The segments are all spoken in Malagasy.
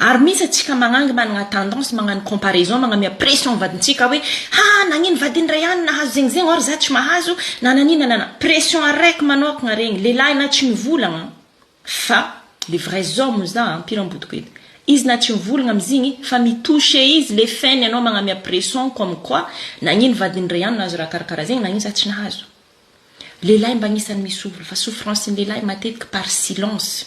Ary misy atsika magnangy managna tendance magnano comparaison magnamia pression vadintsika hoe ha nagnino vadiny ray any nahazo zegny zegny or za tsy mahazo na nagnino na nagnino pression araiky manokagna regny lelahy na tsy mivolagna fa le vrai homme za ampiramboto ko eto izy na tsy mivolagna amizigny fa mi toucher izy le fainy anao magnamia pression comme quoi nagnino vadiny ray any nahazo raha karakara zegny nagnino za tsy nahazo lelahy mba agnisany mi souffre fa souffrance ny lelahy matetiky par silence.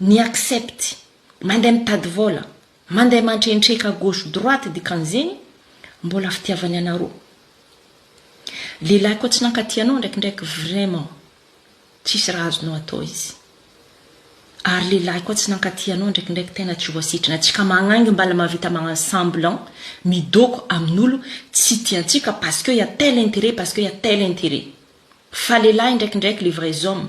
Ny accept, mandeha mitady vola, mandeha mantrentreka gauche droite dikan'izegny mbola fitiavany anarô. Lehilahy koa tsy nankatia anao ndraikindraiky vraiment tsisy raha azonao atao izy. Ary lehilahy koa tsy nankatia anao ndraikindraiky tena tsy voasitrana. Tsika magnangy mbala mavita magnano semblant midôko amin'olo tsy tiantsika parce que ya tel intérêt parce que ya tel intérêt. Fa lehilahy ndraikindraiky les vrais hommes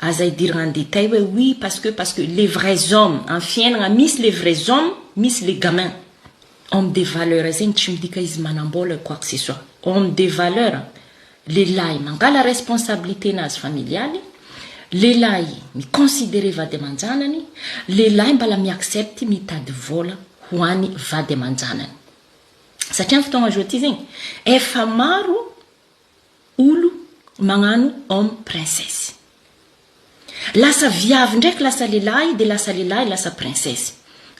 Aza idiragna en detail hoe oui parce que parce que les vrais hommes am fiainagna misy les vrais hommes misy les gamins homme de valeur zegny tsy midika izy manambola quoi que ce soit homme de valeur lehilahy mangala responsabilité nazy familialy lehilahy mi considerer vady amanjanany lehilahy mbala mi accepte mitady vola ho any vady amanjanany satria am fotoagna zao ty zegny efa maro Olo magnano homme princesse. Lasa viavy ndraiky lasa lelahy de lasa lelahy lasa princesse.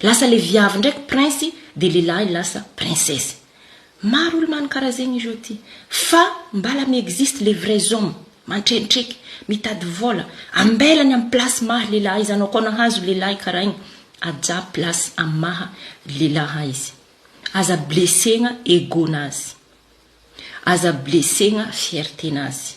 Lasa le viavy ndraiky prince de lelahy lasa princesse. Maro olo mano kara zegny izao ty. Fa mbala mi existe le vrais homme mantrentreke, mitady vola, ambelany am place maha lelahy izy anao koa nahazo lelahy kara igny ajà place am maha lelaha izy. Aza blessegna ego nazy. Aza blessegna fierté nazy.